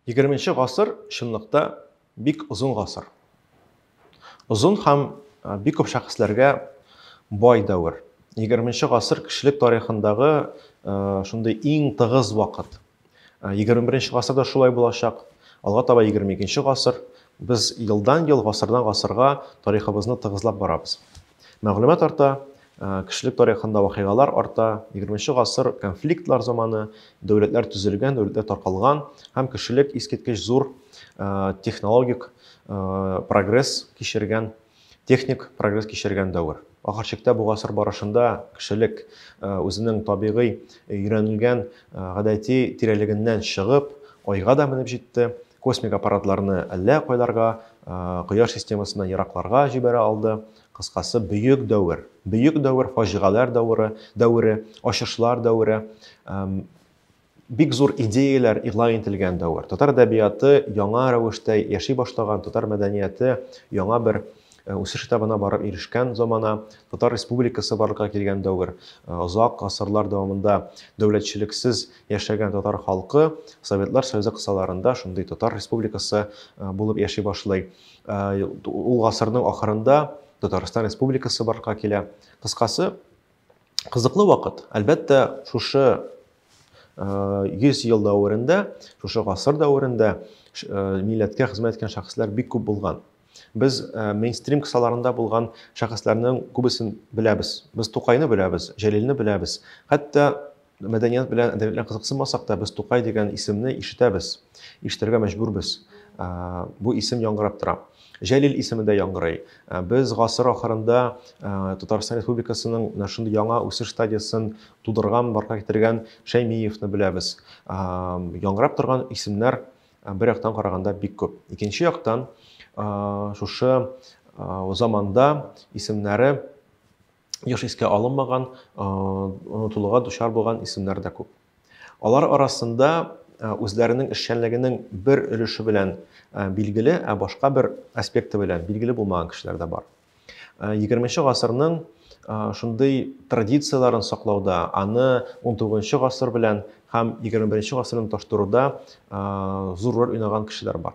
Егерменче гасыр чынлыкта бик озын гасыр. Озын һәм бик күп шәхесләргә бай дәвер. Егерменче гасыр кешелек тарихындагы шундый иң тыгыз вакыт. Егерме беренче гасыр да шулай булачак. Алга таба егерме икенче гасыр. Без елдан ел, гасырдан гасырга тарихыбызны тыгызлап барабыз. Мәгълүмат арта, кешелек тарихында вакыйгалар арта, егерменче гасыр конфликтлар заманы, дәүләтләр төзелгән, дәүләтләр таркалган һәм кешелек искиткеч зур технологик прогресс кичергән, техник прогресс кичергән дәвер. Ахыр чиктә бу гасыр барышында кешелек үзенең табигый өйрәнелгән гадәти тирәлегеннән чыгып, айга да менеп җитте, Космик аппаратларны әллә кайларга, Кояш системасыннан еракларга җибәрә алды. Кыскасы, бөек дәвер. Бөек дәвер, фаҗигаләр дәвре, дәвре, ачышлар дәвре, бик зур идеяләр игълан ителгән дәвер. Татар әдәбияты яңа рәвештә яши башлаган, татар мәдәнияте яңа бер э, үсеш этабына барып ирешкән замана, татар республикасы барлыкка килгән дәвер. Озак э, гасырлар дәвамында дәүләтчелексез Яшәгән татар халкы Советлар Союзы кысаларында шундый татар республикасы булып яши башлый. Ул гасырның ахырында Татарстан республикасы барка килә. Кыскасы, кызыклы вакыт. Әлбәттә, шушы 100 ел дәверендә, шушы гасыр дәверендә милләткә хезмәт иткән шәхесләр бик күп булган. Без мейнстрим кысаларында булган шәхесләрнең күбесен беләбез. Без Тукайны беләбез, Җәлилне беләбез. Хәтта Мәдәният белән әдәбият белән кызыксынмасак та, без Тукай дигән исемне ишетәбез, ишетергә мәҗбүрбез. Бу исем яңгырап тора. Җәлил исеме дә яңгырый. Без гасыр ахырында Татарстан Республикасының менә шундый яңа үсеш стадиясен тудырган, барга китергән Шәймиевны беләбез. Яңгырап торган исемнәр бер яктан караганда бик күп. Икенче яктан, шушы заманда исемнәре еш искә алынмаган, онытылуга дучар булган исемнәр дә күп. Алар арасында үзләренең эшчәнлегенең бер өлеше белән билгеле, ә башка бер аспекты белән билгеле булмаган кешеләр дә бар. 20 гасырның шундый традицияләрен саклауда, аны 19 гасыр белән һәм 21 гасырны таштыруда зур роль уйнаган кешеләр бар.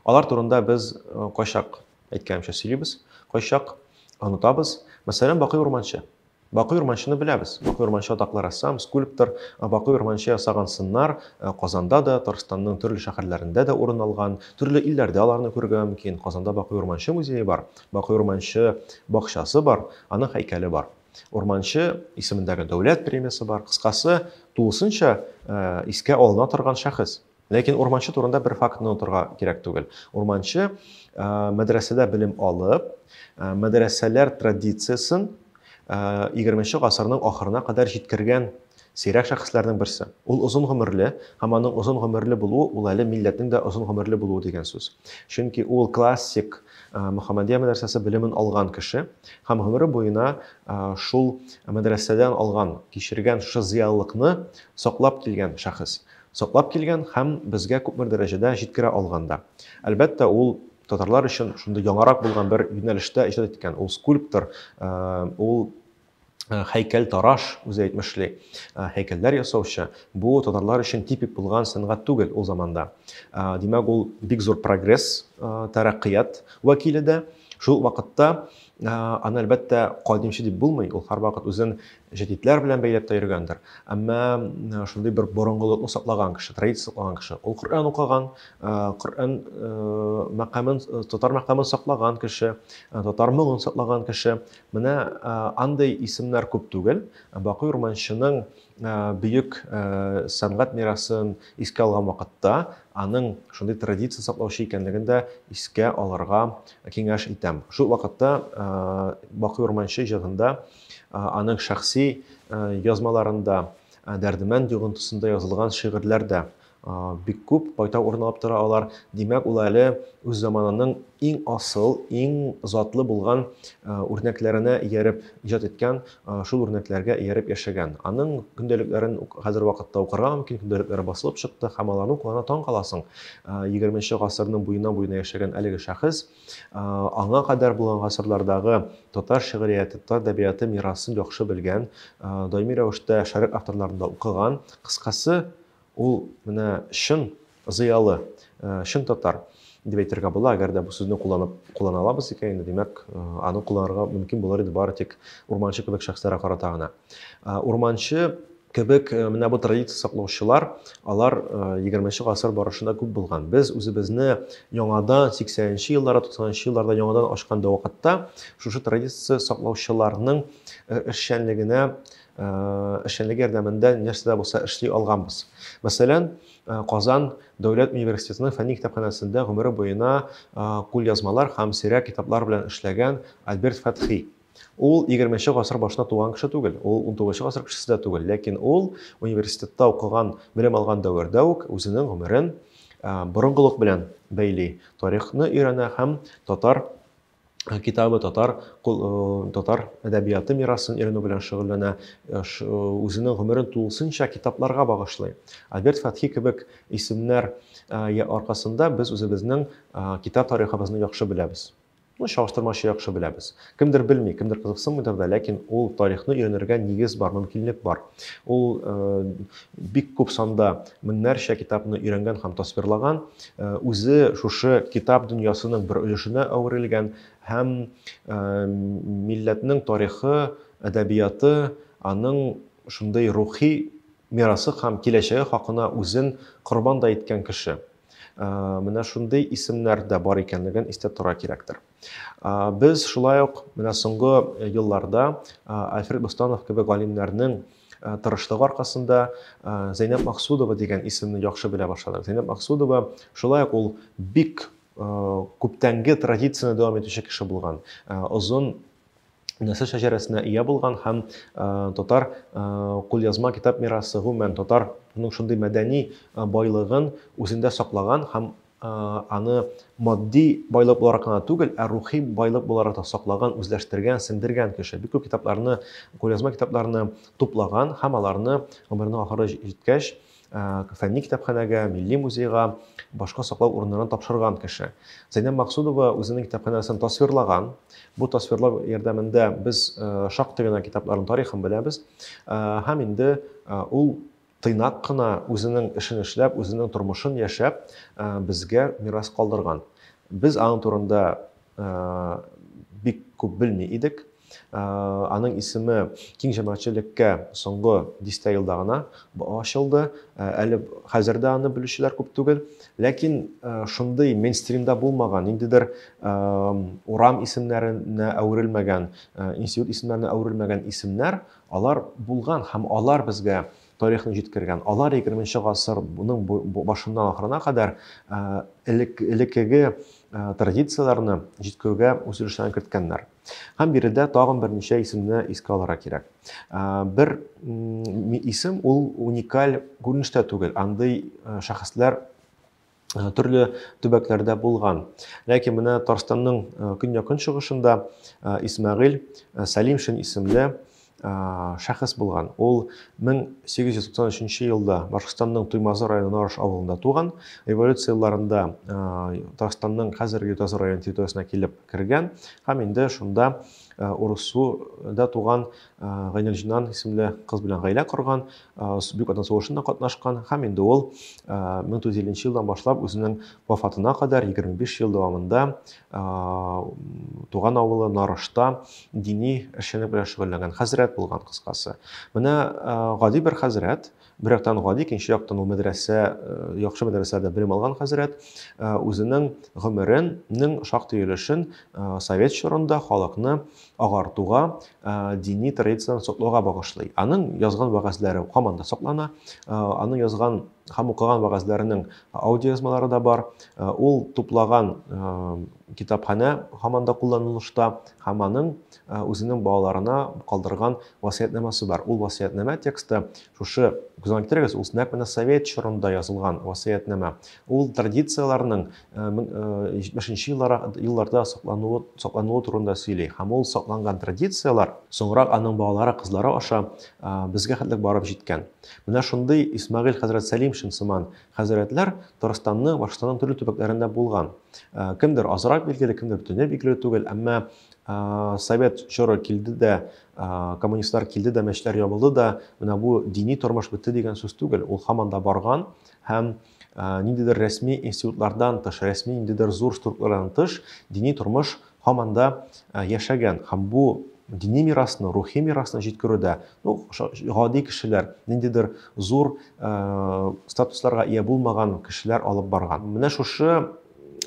Алар турында без кайчак, әйткәнемчә, сөйлибез, кайчак онытабыз. Мәсәлән, Бакый Урманчы. Бакый Урманчыны беләбез. Бакый Урманчы атаклы рәссам, скульптор. Бакый Урманчы ясаган сыннар Казанда да, Татарстанның төрле шәһәрләрендә дә урын алган. Төрле илләрдә аларны күрергә мөмкин. Казанда Бакый Урманчы музее бар, Бакый Урманчы бакчасы бар, аның һәйкәле бар. Урманчы исемендәге дәүләт премиясе бар. Кыскасы, тулысынча искә алына торган шәхес. Ләкин урманчы турында бер фактны онытырга кирәк түгел. Урманчы мәдрәсәдә белем алып, мәдрәсәләр традициясен 20 гасырның ахырына кадәр җиткергән сирәк шәхесләрнең берсе. Ул озын гомерле, һәм аның озын гомерле булуы ул әле милләтнең дә озын гомерле булуы дигән сүз. Чөнки ул классик Мөхәммәдия мәдрәсәсе белемен алган кеше һәм гомере буена шул мәдрәсәдән алган, кичергән шушы зыялылыкны саклап килгән шәхес. Саклап килгән һәм безгә күпмер дәрәҗәдә җиткерә алган да. Әлбәттә, ул татарлар өчен шундый яңарак булган бер юнәлештә иҗат иткән. Ул скульптор, ул һәйкәлтараш, үзе әйтмешли, һәйкәлләр ясаучы. Бу татарлар өчен типик булган сәнгать түгел ул заманда. Димәк, ул бик зур прогресс, тәрәккыят вәкиле дә. Шул ук вакытта аны, әлбәттә, кадимче дип булмый, ул һәрвакыт үзен җәдидләр белән бәйләп тә йөргәндер. Әмма шундый бер борынгылыкны саклаган кеше, традиция саклаган кеше. Ул Коръән укыган, Коръән мәкамен, татар мәкамен саклаган кеше, татар моңын саклаган кеше. Менә андый исемнәр күп түгел. Бакый Урманчының бөек сәнгать мирасын искә алган вакытта аның шундый традиция саклаучы икәнлеген дә искә алырга киңәш итәм. Шул вакытта Бакый Урманчы җырында Аның шәхси язмаларында, Дәрдемәнд йогынтысында язылган шигырьләр дә бик күп, кайта урын алып тора алар. Димәк, ул әле үз заманының иң асыл, иң затлы булган үрнәкләренә ияреп иҗат иткән, шул үрнәкләргә ияреп яшәгән. Аның көндәлекләрен хәзер вакытта укырга мөмкин, көндәлекләре басылып чыкты һәм аларны укыганда таң каласың. Егерменче гасырның буена-буена яшәгән әлеге шәхес Аңа кадәр булган гасырлардагы татар шигърияте, татар әдәбияты мирасын яхшы белгән, даими рәвештә шәрык авторларында укыган, кыскасы, ул менә чын зыялы, чын татар дип әйтергә була, әгәр дә бу сүзне кулланып куллана алабыз икән, инде димәк, аны кулланырга мөмкин булыр иде бары тик урманчы кебек шәхесләргә карата гына. Урманчы Кебек менә бу традиция саклаучылар, алар егерменче гасыр барышында күп булган. Без үзебезне яңадан сиксәненче елларда, туксанынчы елларда яңадан ачкан да вакытта шушы традиция саклаучыларның эшчәнлегенә эшчәнлеге ярдәмендә нәрсә дә булса эшли алганбыз. Мәсәлән, Казан дәүләт университетының фәнни китапханәсендә гомере буена кулъязмалар һәм сирәк китаплар белән эшләгән Альберт Фәтхи, Ул егерменче гасыр башында туган кеше түгел, ул унтугызынчы гасыр кешесе дә түгел, ләкин ул университетта укыган, белем алган дәвердә үк үзенең гомерен борынгылык белән бәйли, тарихны өйрәнә һәм татар китабы, татар, татар әдәбияты мирасын өйрәнү белән шөгыльләнә, үзенең гомерен тулысынча китапларга багышлый. Альберт Фәтхи кебек исемнәр аркасында без үзебезнең китап тарихыбызны яхшы беләбез. Моны чагыштырмача яхшы беләбез. Кемдер белми, кемдер кызыксынмыйдыр да, ләкин ул тарихны өйрәнергә нигез бар, мөмкинлек бар. Ул бик күп санда меңнәрчә китапны өйрәнгән һәм тасвирлаган, үзе шушы китап дөньясының бер өлешенә әверелгән һәм милләтнең тарихы, әдәбияты, аның шундый рухи мирасы һәм киләчәге хакына үзен корбан да иткән кеше. менә шундый исемнәр дә бар икәнлеген истә тора кирәктер. Без шулай ук менә соңгы елларда Альфред Бостанов кебек галимнәрнең тырышлыгы аркасында Зәйнәб Максудова дигән исемне яхшы белә башладык. Зәйнәб Максудова шулай ук ул бик күптәнге традицияне дәвам итүче кеше булган. Озын нәсел шәҗәрәсенә ия булган һәм татар кулъязма китап мирасы, гомумән татарның шундый мәдәни байлыгын үзендә саклаган һәм аны матди байлык буларак кына түгел, ә рухи байлык буларак та саклаган, үзләштергән, сеңдергән кеше. Бик күп китапларны, кулъязма китапларны туплаган һәм аларны гомеренең ахыры җиткәч, фәнни китапханәгә, милли музейга, башка саклау урыннарына тапшырган кеше. Зәйнәб Максудова үзенең китапханәсен тасвирлаған. Бу тасвирлау ярдәмендә без шактый гына китапларның тарихын беләбез. Һәм инде ул тыйнак кына үзенең эшен эшләп, үзенең тормышын яшәп, безгә мирас калдырган. Без аның турында бик күп белми идек. Аның исеме киң җәмәгатьчелеккә соңгы дистә елда гына ачылды. Әле хәзер дә аны белүчеләр күп түгел. Ләкин шундый мейнстримда булмаган, ниндидер урам исемнәренә әверелмәгән, институт исемнәренә әверелмәгән исемнәр, алар булган һәм алар безгә тарихны җиткергән. Алар 20 гасыр буның башыннан ахырына кадәр элеккеге традицияләрне җиткерүгә үз өлешләрен керткәннәр. Һәм биредә тагын берничә исемне искә алырга кирәк. Бер исем ул уникаль күренештә түгел. Андый шәхесләр төрле төбәкләрдә булган. Ләкин менә Татарстанның көньякын чыгышында Исмәгыйль Сәлимшин исемле шәхес булган. Ул 1893 нче елда Башкортстанның Туймазы районы Нарыш авылында туган. Революция елларында Татарстанның хәзерге Ютазы районы территориясенә килеп кергән һәм инде шунда Урыссуда туган Гайнелҗинан исемле кыз белән гаилә корган, Бөек Ватан сугышында катнашкан һәм инде ул 1950 елдан башлап үзенең вафатына кадәр 25 ел дәвамында туган авылы Нарышта дини эшчәнлек белән шөгыльләнгән хәзрәт булган кыскасы. Менә гади бер хәзрәт, бер яктан гади, икенче яктан ул мәдрәсә, яхшы мәдрәсәдә белем алган хәзрәт үзенең гомеренең шактый өлешен совет чорында халыкны агартуга, дини традицияләрне саклауга багышлый. Аның язган вәгазьләре һаман да саклана, аның язган һәм укыган вәгазьләренең аудиоязмалары да бар. Э, ул туплаган э, китапханә һаман да кулланылышта һәм аның э, үзенең балаларына калдырган васыятьнамасы бар. Ул васыятьнама тексты шушы күзән китерегез, ул нәкъ менә совет чорында язылган васыятьнама. Ул традицияләрнең 70 елларда саклануы, саклануы турында сөйли. Һәм ул сакланган традицияләр соңрак аның балалары, кызлары аша безгә хәтлек барып җиткән. Менә шундый Исмагыйль хәзрәт Сәлимшин сыман хәзрәтләр Татарстанның, Башкортстанның төрле төбәкләрендә булган. Кемдер азрак билгеле, кемдер бөтенләй билгеле түгел, әмма совет чоры килде дә, коммунистлар килде дә, мәчетләр ябылды да, менә бу дини тормыш бетте дигән сүз түгел. Ул һаман да барган һәм ниндидер рәсми институтлардан тыш, рәсми ниндидер зур структуралардан тыш дини тормыш һаман да яшәгән һәм бу дини мирасны, рухи мирасны җиткерүдә, ну, гади кешеләр, ниндидер зур ә, статусларга ия булмаган кешеләр алып барган. Менә шушы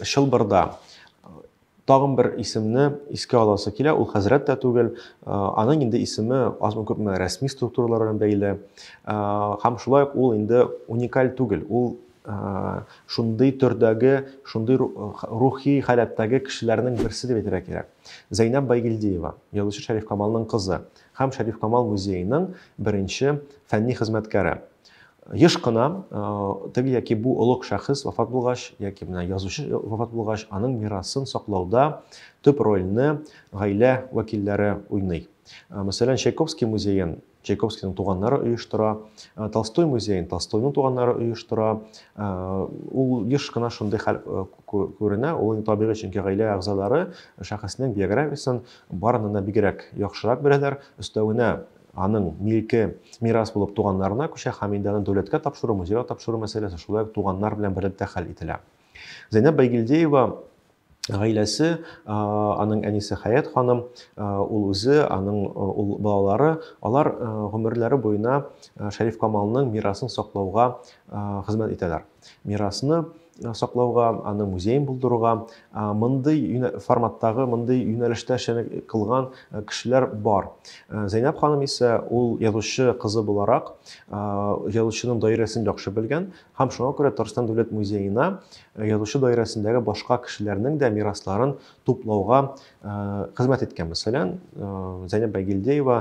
чылбырда Тагын бер исемне искә аласы килә, ул хәзрәт тә түгел, аның инде исеме азмы-күпме рәсми структуралар белән бәйле. Һәм шулай ук ул инде уникаль түгел, ул шундый төрдәге, шундый рухи халәттәге кешеләрнең берсе дип әйтергә кирәк. Зәйнәб Байгилдиева, язучы Шәриф Камалның кызы һәм Шәриф Камал музееның беренче фәнни хезмәткәре. Еш кына теге яки бу олуг шәхес вафат булгач, яки менә язучы вафат булгач, аның мирасын саклауда төп рольне гаилә вәкилләре уйный. Мәсәлән, Чайковский музеен Чайковскийның туганнары оештыра, Толстой музеен Толстойның туганнары оештыра. Ул еш кына шундый хәл күренә, ул табигый, чөнки гаилә әгъзалары шәхеснең биографиясен барыннан да бигрәк яхшырак беләләр. Өстәвенә Аның милке мирас булып туганнарына күчә, Хәмидәне дәүләткә тапшыру, музейга тапшыру мәсьәләсе шулай ук туганнар белән берлектә хәл ителә. Зәйнәп Байгилдеева гаиләсе, аның әнисе Хәят ханым, ул үзе, аның ул балалары, алар гомерләре буена Шәриф Камалның мирасын саклауга хезмәт итәләр. Мирасны Э, саклауга аны музейын булдыруга э, мондый форматтагы мондый юнәлештә эшчәнлек кылган э, кешеләр бар зәйнәб ханым исә ул язучы кызы буларак язучының даирәсен яхшы белгән һәм шуңа күрә татарстан дәүләт музеена язучы даирәсендәге башка кешеләрнең дә мирасларын туплауга хезмәт иткән мәсәлән зәйнәб байгилдеева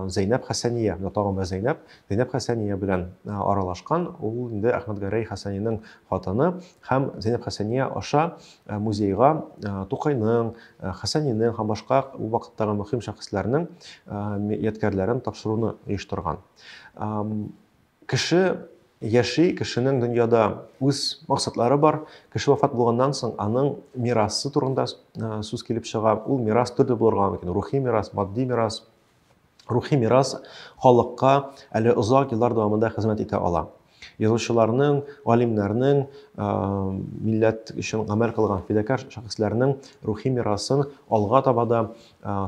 зәйнәб хәсәния тагын бер зәйнәб Зәйнәп Хәсәния белән аралашкан, ул инде Әхмәтгәрәй Хәсәниның хатыны һәм Зәйнәп Хәсәния аша музейга Тукайның, Хәсәнинең һәм башка ул вакыттагы мөһим шәхесләрнең ядкәрләрен тапшыруны оештырган. Кеше яши, кешенең дөньяда үз максатлары бар. Кеше вафат булганнан соң, аның мирасы турында сүз килеп чыга. Ул мирас төрле булырга мөмкин. Рухи мирас, матди мирас, Рухи мирас халыкка әле озак еллар дәвамында хезмәт итә ала. Язучыларның, галимнәрнең, милләт өчен гамәл кылган фидакар шәхесләрнең рухи мирасын алга таба да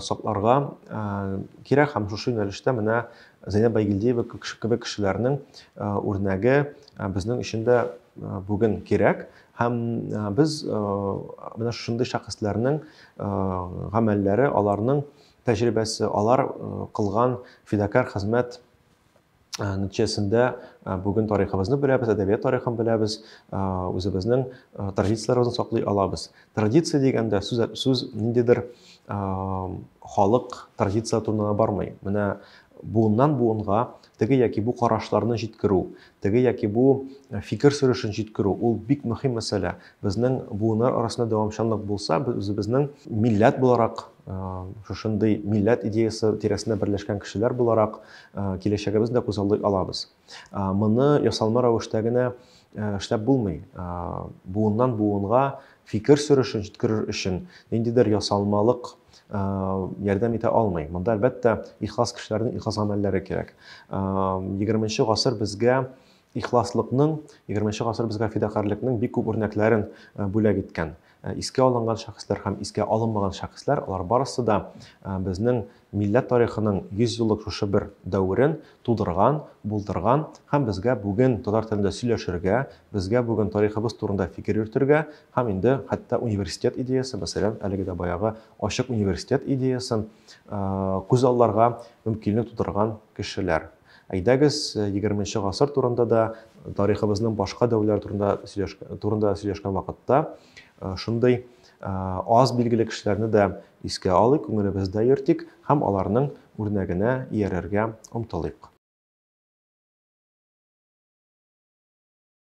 сакларга кирәк һәм шушы юнәлештә менә Зәйнәб Байгилдиева кебек кешеләрнең үрнәге безнең өчен дә бүген кирәк һәм без менә шушындый шәхесләрнең гамәлләре аларның тәҗрибәсе, алар кылган фидакарь хезмәт нәтиҗәсендә бүген тарихыбызны беләбез, әдәбият тарихын беләбез, үзебезнең традицияләребезне саклый алабыз. Традиция дигәндә сүз, сүз ниндидер халык традиция турында бармый. Менә буыннан буынга Теге яки бу карашларны җиткерү, теге яки бу фикер сөрешен җиткерү, ул бик мөһим мәсьәлә. Безнең буыннар арасында дәвамчанлык булса, без үзебезнең милләт буларак, шушындый милләт идеясы тирәсендә берләшкән кешеләр буларак, киләчәгебезне дә күзаллый алабыз. Моны ясалма рәвештә генә эшләп булмый. Буыннан буынга фикер сөрешен җиткерер өчен ниндидер ясалмалык ярдәм итә алмый. Монда, әлбәттә, ихлас кешеләрнең ихлас гамәлләре кирәк. 20 гасыр безгә ихласлыкның, 20 гасыр безгә фидакарьлекнең бик күп үрнәкләрен бүләк иткән. Искә алынган шәхесләр һәм искә алынмаган шәхесләр, алар барысы да безнең милләт тарихының 100 еллык шушы бер дәверен тудырган, булдырган һәм безгә бүген татар телендә сөйләшергә, безгә бүген тарихыбыз турында фикер йөртергә һәм инде хәтта университет идеясе, мәсәлән, әлеге дә баягы ачык университет идеясын күз алларга мөмкинлек тудырган кешеләр. Әйдәгез, егерменче гасыр турында да, тарихыбызның башка дәверләре турында сөйләшкән вакытта шундый Аз билгеле кешеләрне дә искә алыйк, күңелебездә йөртик һәм аларның үрнәгенә иярергә омтылыйк.